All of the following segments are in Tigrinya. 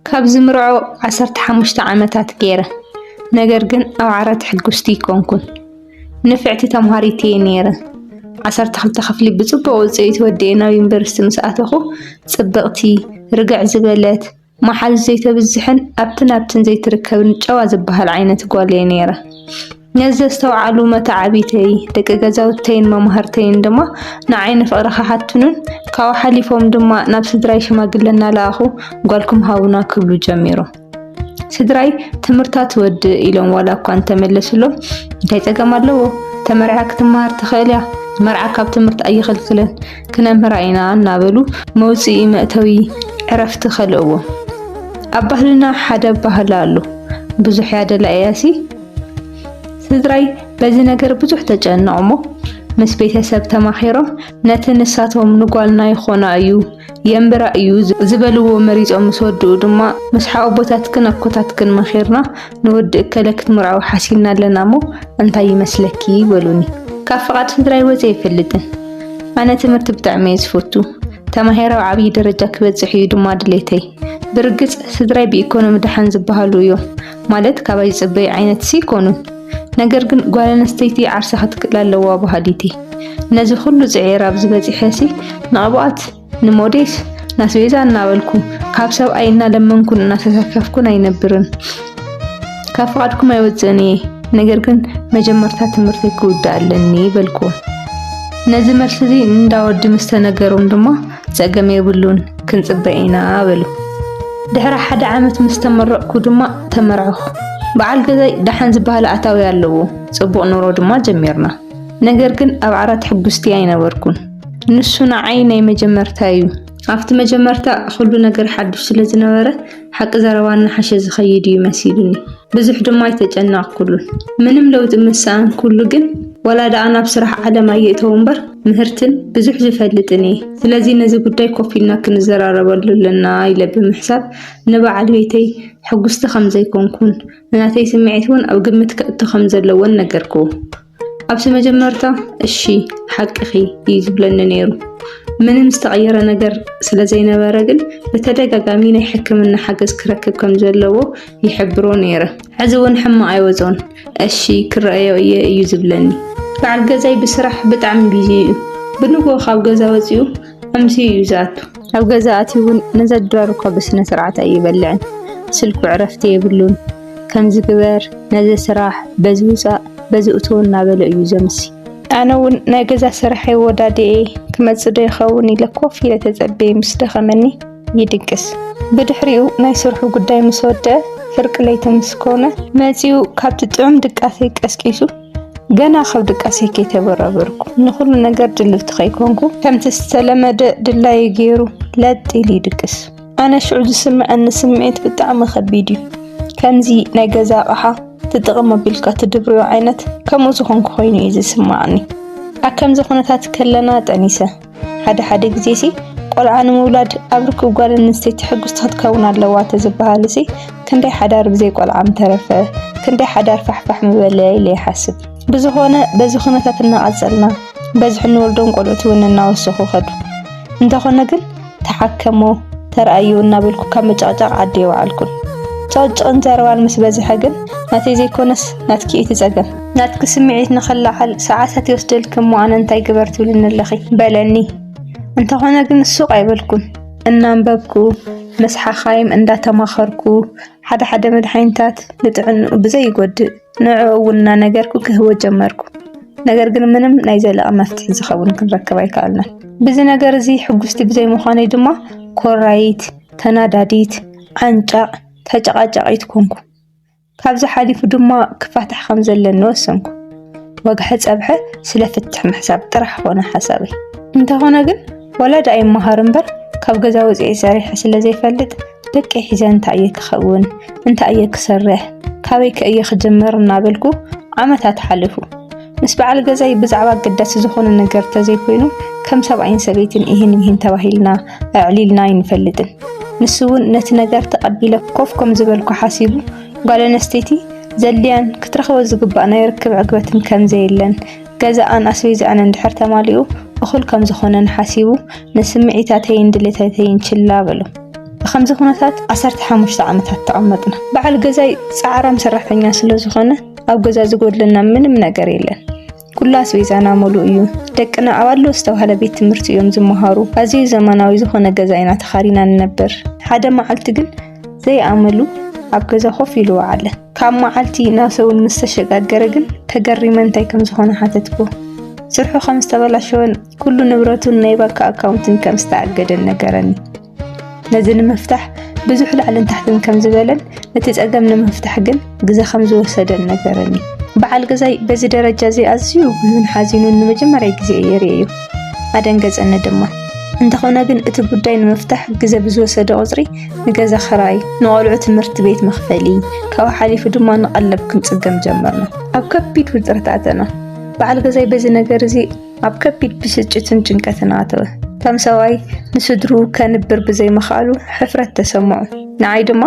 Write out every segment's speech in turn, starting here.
ካብ ዝምርዖ ዓሰርተ ሓሙሽተ ዓመታት ገይረ፣ ነገር ግን ኣብ ዓራት ሕጉስቲ ኣይኮንኩን። ንፍዕቲ ተምሃሪት እየ ነይረ። ዓሰርተ ክልተ ክፍሊ ብጽቡቕ ውጽኢት ወዲኤ ናብ ዩኒቨርሲቲ ምስ ኣተኹ፣ ጽብቕቲ፣ ርግዕ ዝበለት፣ ማሓዙት ዘይተብዝሕን ኣብቲ ናብትን ዘይትርከብን ጨዋ ዝባሃል ዓይነት ጓል እየ ነይረ። ነዚ ዘስተውዓሉ መተዓብይተይ፣ ደቂ ገዛውተይን መማህርተይን ድማ ንዓይ ንፍቕሪ ክሓትኑን ካብኡ ሓሊፎም ድማ ናብ ስድራይ ሽማግለ እናለኣኹ ጓልኩም ሃቡና ክብሉ ጀሚሮም። ስድራይ ትምህርታ ትወድእ ኢሎም ዋላ እኳ እንተመለስሎም እንታይ ጸገም ኣለዎ ተመሪዓ ክትመሃር ትኽእል እያ መርዓ ካብ ትምህርቲ ኣይኽልክልን ክነምህራ ኢና እናበሉ መውፅኢ መእተዊ ዕረፍቲ ከልእዎ። ኣብ ባህልና ሓደ ኣባህላ ኣሎ፣ ብዙሕ ያደላ እያሲ። ስድራይ በዚ ነገር ብዙሕ ተጨነቑ እሞ ምስ ቤተሰብ ተማኺሮም ነቲ ንሳቶም ንጓልና ይኾና እዩ የንብራ እዩ ዝበልዎ መሪፆም ምስ ወድኡ ድማ ምስ ሓወቦታትክን ኣኮታትክን መኺርና ንወዲ እከለ ክትምርዐው ሓሲብና ኣለና እሞ እንታይ ይመስለኪ በሉኒ። ካብ ፍቓድ ስድራይ ወፂ ኣይፈልጥን። ኣነ ትምህርቲ ብጣዕሚ እየ ዝፈቱ። ተማሂረ ኣብ ዓብዪ ደረጃ ክበፅሕ እዩ ድማ ድሌተይ። ብርግፅ ስድራይ ብኢኮኖሚ ደሓን ዝበሃሉ እዮም። ማለት ካባይ ዝፅበዩ ዓይነት ሲ ኮኑን። ነገር ግን ጓል ኣንስተይቲ ዓርሳ ክትክእል ኣለዋ በሃሊት እየ። ነዚ ኩሉ ፅዒር ኣብዚ በፂሐ ሲ ንቕብኣት ንሞዴስ ናስቤዛ እናበልኩ ካብ ሰብኣይ እናለመንኩን እናተሰከፍኩን ኣይነብርን። ካብ ፍቓድኩም ኣይወፅእን እየ፣ ነገር ግን መጀመርታ ትምህርቲ ክውዳእ ኣለኒ በልኩ። ነዚ መልሲ እዚ እንዳወዲ ምስ ተነገሮም ድማ ፀገም የብሉን ክንፅበ ኢና በሉ። ድሕሪ ሓደ ዓመት ምስ ተመረቕኩ ድማ ተመርዕኹ። በዓል ገዛይ ደሓን ዝበሃል ኣታዊ ኣለዎ፣ ፅቡቕ ኑሮ ድማ ጀሚርና። ነገር ግን ኣብ ዓራት ሕጉስቲ ኣይነበርኩን። ንሱ ንዓይ ናይ መጀመርታ እዩ። ኣብቲ መጀመርታ ኹሉ ነገር ሓዱሽ ስለ ዝነበረ ሓቂ ዘረባ እናሓሸ ዝኸይድ እዩ መሲሉኒ። ብዙሕ ድማ ኣይተጨነቕኩሉን። ምንም ለውጢ ምስ ሰኣንኩሉ ግን ዋላ ደኣ ናብ ስራሕ ዓለም ኣየእተዎ እምበር ምህርትን ብዙሕ ዝፈልጥን እየ። ስለዚ ነዚ ጉዳይ ኮፍ ኢልና ክንዘራረበሉ ኣለና ኢለ ብምሕሳብ ንበዓል ቤተይ ሕጉስቲ ከም ዘይኮንኩን ናተይ ስምዒት እውን ኣብ ግምት ከእቶ ከም ዘለዎን ነገርክዎ። ኣብቲ መጀመርታ እሺ ሓቅኺ እዩ ዝብለኒ ነይሩ። ምንም ዝተቐየረ ነገር ስለ ዘይነበረ ግን ብተደጋጋሚ ናይ ሕክምና ሓገዝ ክረክብ ከም ዘለዎ ይሕብሮ ነይረ። ሕዚ እውን ሕማቕ ኣይወጾን እሺ ክረኣዮ እየ እዩ ዝብለኒ። በዓል ገዛይ ብስራሕ ብጣዕሚ ቢዚ እዩ። ብንግሆ ካብ ገዛ ወጺኡ ከምዚ እዩ ዝኣቱ ኣብ ገዛ ኣትዩ እውን ነዛ ድራር እኳ ብስነ ስርዓት ኣይበልዕን ስልኩ ዕረፍቲ የብሉን ከምዚ ግበር ነዚ ስራሕ በዚ ውፃእ በዚ እትው እናበለ እዩ ዘምሲ ኣነ እውን ናይ ገዛ ስራሐይ ወዳድኤ ክመፅእ ዶ ይኸውን ኢለ ኮፍ ኢለ ተፀበየ ምስ ደኸመኒ ይድቅስ ብድሕሪኡ ናይ ስርሑ ጉዳይ ምስ ወደአ ፍርቂ ለይቲ ምስ ኮነ መፂኡ ካብቲ ጥዑም ድቃሰይ ቀስቂሱ ገና ካብ ድቃሰይ ከይተበራበርኩ ንኹሉ ነገር ድልውቲ ከይኮንኩ ከምቲ ዝተለመደ ድላዩ ገይሩ ለጥ ኢሉ ይድቅስ። ኣነ ሽዑ ዝስምዐኒ ስምዒት ብጣዕሚ ከቢድ እዩ። ከምዚ ናይ ገዛ ኣቕሓ ትጥቕም ኣቢልካ ትድብርዮ ዓይነት ከምኡ ዝኾንኩ ኮይኑ እዩ ዝስማዓኒ። ኣብ ከምዚ ኩነታት ከለና ጠኒሰ ሓደ ሓደ ግዜሲ ቆልዓ ንምውላድ ኣብ ርክብ ጓል ኣንስተይቲ ሕጉስቲ ክትከውን ኣለዋ ተዝበሃልሲ ክንደይ ሓዳር ብዘይ ቆልዓ ምተረፈ፣ ክንደይ ሓዳር ፋሕፋሕ ምበለ ኢለ ይሓስብ። ብዝኾነ በዚ ኩነታት እናቐጸልና በዝሒ እንወልዶም ቆልዑት እውን እናወሰኹ ከዱ። እንተኾነ ግን ተሓከሞ ተርኣዮ እናበልኩ ካብ ምጭቕጫቕ ዓዲ ኣይወዓልኩን። ጭቕጭቕን ዘረባን ምስ በዝሐ ግን ናተይ ዘይኮነስ ናትኪ እዩ እቲ ጸገም። ናትኪ ስምዒት ንኽለዓል ሰዓታት ይወስደልኪ እሞ ኣነ እንታይ ግበር ትብልኒ ኣለኺ? በለኒ። እንተኾነ ግን ሱቕ ኣይበልኩን። እናንበብኩ፣ ምስ ሓኻይም እንዳተማኸርኩ፣ ሓደ ሓደ መድሓኒታት ንጥዕንኡ ብዘይጎድእ ንዕኡ እውን እናነገርኩ ክህቦ ጀመርኩ። ነገር ግን ምንም ናይ ዘለቐ መፍትሒ ዝኸውን ክንረክብ ኣይከኣልናን። ብዚ ነገር እዚ ሕጉስቲ ብዘይምዃነይ ድማ ኮራይት፣ ተናዳዲት፣ ዓንጫቕ፣ ተጨቓጫቒት ኮንኩ። ካብዚ ሓሊፉ ድማ ክፋታሕ ከም ዘለኒ ወሰንኩ። ወግሐ ጸብሐ ስለ ፍትሕ ምሕሳብ ጥራሕ ኮነ ሓሳበይ። እንተኾነ ግን ወላዲ ኣይመሃር እምበር ካብ ገዛ ወፂኤ ሰሪሐ ስለ ዘይፈልጥ ደቀይ ሒዘ እንታይ እየ ክኸውን እንታይ እየ ክሰርሕ ካበይ ከ እየ ክጅምር እናበልኩ ዓመታት ሓለፉ። ምስ በዓል ገዛይ ብዛዕባ ኣገዳሲ ዝኾነ ነገር ተዘይኮይኑ ከም ሰብኣይን ሰበይትን ኢህን ምሂን ተባሂልና ኣዕሊልና ኣይንፈልጥን። ንሱ እውን ነቲ ነገር ተቐቢለ ኮፍ ከም ዝበልኩ ሓሲቡ ጓል ኣነስተይቲ ዘድልያን ክትረኽቦ ዝግባእ ናይ ርክብ ዕግበትን ከም ዘየለን ገዛኣን ኣስቤዛኣን እንድሕር ተማሊኡ እኹል ከም ዝኾነን ሓሲቡ ንስምዒታተይን ድሌታተይን ችላ በሎ። ብከምዚ ኩነታት ዓሰርተ ሓሙሽተ ዓመታት ተቐመጥና። በዓል ገዛይ ጻዕራም ሰራሕተኛ ስለ ዝኾነ ኣብ ገዛ ዝጎድለና ምንም ነገር የለን። ኩሉ ኣስቤዛና ሙሉእ እዩ። ደቅና ኣብ ኣድሎ ዝተባህለ ቤት ትምህርቲ እዮም ዝመሃሩ። ኣዝዩ ዘመናዊ ዝኾነ ገዛ ኢና ተኻሪና ንነብር። ሓደ መዓልቲ ግን ዘይኣመሉ ኣብ ገዛ ኮፍ ኢሉ ወዓለ። ካብ መዓልቲ ናብ ሰሙን ምስ ተሸጋገረ ግን ተገሪመ እንታይ ከም ዝኾነ ሓተትኩ። ስርሑ ከም ዝተበላሸወን ኩሉ ንብረቱን ናይ ባንክ ኣካውንትን ከም ዝተኣገደን ነገረኒ። ነዚ ንምፍታሕ ብዙሕ ላዕልን ታሕትን ከም ዝበለን ነቲ ጸገም ንምፍታሕ ግን ግዘ ከም ዝወሰደን ነገረኒ። በዓል ገዛይ በዚ ደረጃ እዚ ኣዝዩ ብሉን ሓዚኑን ንመጀመርያ ግዜ እየ ርእየዮ። ኣደንገጸኒ ድማ። እንተኾነ ግን እቲ ጉዳይ ንምፍታሕ ግዘ ብዝወሰደ ቁጽሪ ንገዛ ክራይ፣ ንቆልዑ ትምህርቲ ቤት መኽፈሊ፣ ካብኡ ሓሊፉ ድማ ንቀለብ ክንጽገም ጀመርና። ኣብ ከቢድ ውጥረት ኣተና። በዓል ገዛይ በዚ ነገር እዚ ኣብ ከቢድ ብስጭትን ጭንቀትን ኣተወ። ከም ሰብኣይ ንስድርኡ ከንብር ብዘይምኽኣሉ ሕፍረት ተሰምዖ። ንዓይ ድማ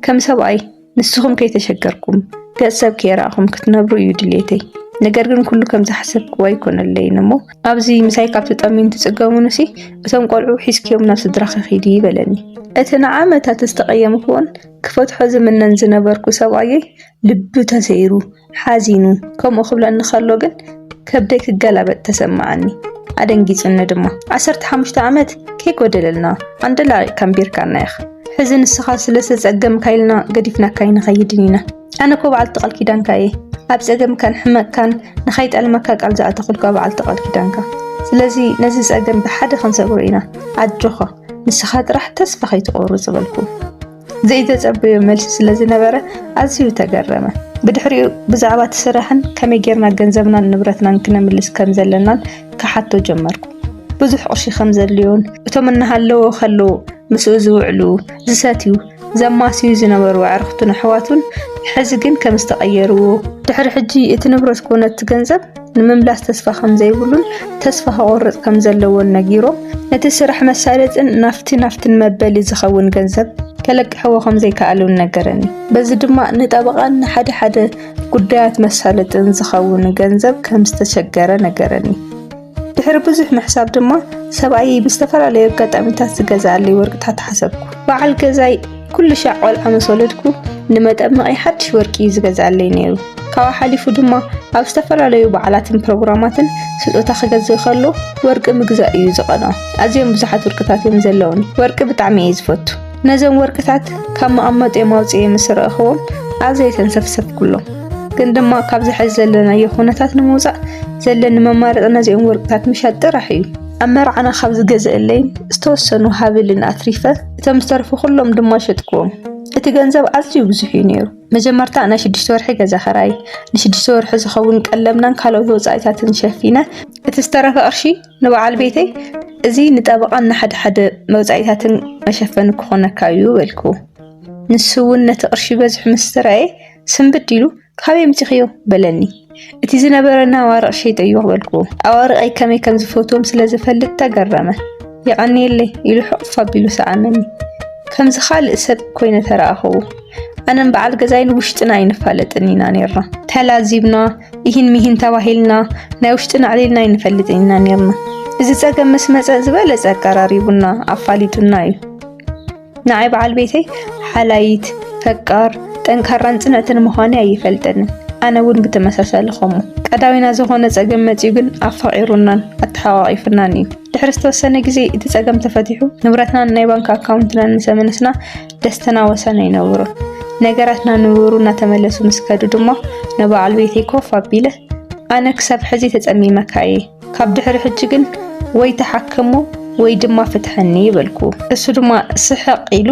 ከም ሰብኣይ ንስኹም ከይተሸገርኩም ገጽ ሰብ ከይረኣኹም ክትነብሩ እዩ ድሌተይ። ነገር ግን ኩሉ ከም ዝሓሰብክዎ ኣይኮነለይን እሞ ኣብዚ ምሳይ ካብ ትጠምዩን ትጽገሙንሲ እቶም ቆልዑ ሒዝክዮም ናብ ስድራኺ ኺዲ በለኒ። እቲ ንዓመታት ዝተቐየምክዎን ክፈትሖ ዝምነን ዝነበርኩ ሰብኣየይ ልቡ ተሰይሩ ሓዚኑ ከምኡ ክብለኒ ከሎ ግን ከብደይ ክገላበጥ ተሰማዓኒ ኣደንጊጹኒ ድማ ዓሰርተ ሓሙሽተ ዓመት ከይጎደለልና ኣንደላቂቅ ከምቢርካና ኢኻ ሕዚ ንስኻ ስለ ዝተጸገምካ ኢልና ገዲፍናካ ይንኸይድን ኢና ኣነ እኮ በዓልቲ ቃል ኪዳንካ እየ ኣብ ጸገምካን ሕመቅካን ንኸይጠልመካ ቃል ዝኣተኹልካ በዓልቲ ቃል ኪዳንካ ስለዚ ነዚ ጸገም ብሓደ ክንሰግሮ ኢና ኣጆኻ ንስኻ ጥራሕ ተስፋ ከይትቆርጽ በልኩ ዘይተጸበዮ መልሲ ስለ ዝነበረ ኣዝዩ ተገረመ። ብድሕሪኡ ብዛዕባ እቲ ስራሕን ከመይ ጌርና ገንዘብናን ንብረትናን ክነምልስ ከም ዘለናን ክሓቶ ጀመርኩ። ብዙሕ ቅርሺ ከም ዘድልዮን እቶም እናሃለዎ ከለዉ ምስኡ ዝውዕሉ፣ ዝሰትዩ፣ ዘማስዩ ዝነበሩ ኣዕርኽቱን ኣሕዋቱን ሕዚ ግን ከም ዝተቐየርዎ፣ ድሕሪ ሕጂ እቲ ንብረት ኮነ እቲ ገንዘብ ንምምላስ ተስፋ ከምዘይብሉን ተስፋ ከቑርጽ ከምዘለዎን ነጊሮም ነቲ ስራሕ መሳለጥን ናፍቲ ናፍትን መበሊ ዝኸውን ገንዘብ ከለቅሕዎ ከምዘይከኣሉን ነገረኒ። በዚ ድማ ንጠበቓን ንሓደ ሓደ ጉዳያት መሳለጥን ዝኸውን ገንዘብ ከም ዝተሸገረ ነገረኒ። ድሕሪ ብዙሕ ምሕሳብ ድማ ሰብኣየይ ብዝተፈላለዩ ኣጋጣሚታት ዝገዝኣለይ ወርቅታት ሓሰብኩ። በዓል ገዛይ ኩሉ ሻዕ ቆልዓ ምስ ወለድኩ ንመጠመቒ ሓድሽ ወርቂ እዩ ዝገዝኣለይ ነይሩ። ካብኡ ሓሊፉ ድማ ኣብ ዝተፈላለዩ በዓላትን ፕሮግራማትን ስጦታ ክገዝእ ከሎ ወርቂ ምግዛእ እዩ ዝቐንኦ። ኣዝዮም ብዙሓት ወርቅታት እዮም ዘለውኒ። ወርቂ ብጣዕሚ እየ ዝፈቱ። ነዞም ወርቅታት ካብ መቐመጢኦም ኣውፅኤ ምስ ረእኽዎም ኣዝየ ተንሰፍሰፍኩሎም። ግን ድማ ካብዚ ሕዚ ዘለናዮ ኩነታት ንምውፃእ ዘለኒ መማረፂ ነዚኦም ወርቅታት ምሻጥ ጥራሕ እዩ። ኣብ መርዓና ካብ ዝገዝእለይን ዝተወሰኑ ሃብልን ኣትሪፈ እቶም ዝተርፉ ኩሎም ድማ ሸጥክዎም። እቲ ገንዘብ ኣዝዩ ብዙሕ እዩ ነይሩ። መጀመርታ ናይ ሽዱሽተ ወርሒ ገዛ ኸራይ፣ ንሽዱሽተ ወርሒ ዝኸውን ቀለብናን ካልኦት ወጻኢታትን ሸፊነ፣ እቲ ዝተረፈ ቅርሺ ንበዓል ቤተይ እዚ ንጠበቓን ንሓደ ሓደ መውጻኢታትን መሸፈኒ ክኾነካ እዩ በልኩ። ንሱ እውን ነቲ ቅርሺ በዚሑ ምስ ተራእየ ስንብድ ኢሉ ካበይ ኣምጺኽዮ? በለኒ። እቲ ዝነበረና ኣዋርቕ ሸይጠዮ በልክዎ። ኣዋርቐይ ከመይ ከም ዝፈትዎም ስለ ዝፈልጥ ተገረመ። የቐንየለይ ኢሉ ሕቕፍ ኣቢሉ ሰዓመኒ። ከምዚ ካልእ ሰብ ኮይነ ተረኣኽዎ። ኣነን በዓል ገዛይ ንውሽጥና ኣይንፋለጥን ኢና ነይርና። ተላዚብና፣ ኢሂን ሚሂን ተባሂልና፣ ናይ ውሽጥና ኣዕሊልና ኣይንፈልጥን ኢና ነይርና። እዚ ጸገም ምስ መጸ ዝበለጸ ኣቀራሪቡና፣ ኣፋሊጡና እዩ። ንዓይ በዓል ቤተይ ሓላይት፣ ፈቃር፣ ጠንካራን ጽንዕትን ምዃነይ ኣይፈልጠንን። ኣነ እውን ብተመሳሳሊ ከምኡ። ቀዳዊና ዝኾነ ጸገም መጺኡ ግን ኣፋቒሩናን ኣተሓቋቒፉናን እዩ። ድሕሪ ዝተወሰነ ግዜ እቲ ጸገም ተፈቲሑ ንብረትናን ናይ ባንክ ኣካውንትናን ምስ ኣመለስና ደስተና ወሰን ኣይነበሮን። ነገራትና ንቡሩ እናተመለሱ ምስ ከዱ ድማ ንበዓል ቤተይ ኮፍ ኣቢለ ኣነ ክሳብ ሕዚ ተጸሚመካ እየ ካብ ድሕሪ ሕጂ ግን ወይ ተሓከሞ ወይ ድማ ፍትሐኒ በልኩ። እሱ ድማ ስሕቕ ኢሉ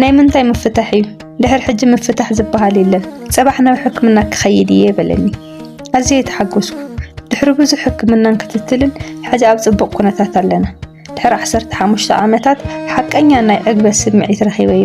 ናይ ምንታይ ምፍታሕ እዩ ድሕሪ ሕጂ ምፍታሕ ዝበሃል የለን ጽባሕ ናብ ሕክምና ክኸይድ እየ በለኒ። ኣዝየ ተሓጎስኩ። ድሕሪ ብዙሕ ሕክምናን ክትትልን ሕዚ ኣብ ጽቡቕ ኩነታት ኣለና። ድሕሪ ዓሰርተ ሓሙሽተ ዓመታት ሓቀኛ ናይ ዕግበት ስምዒት ረኺበዮ።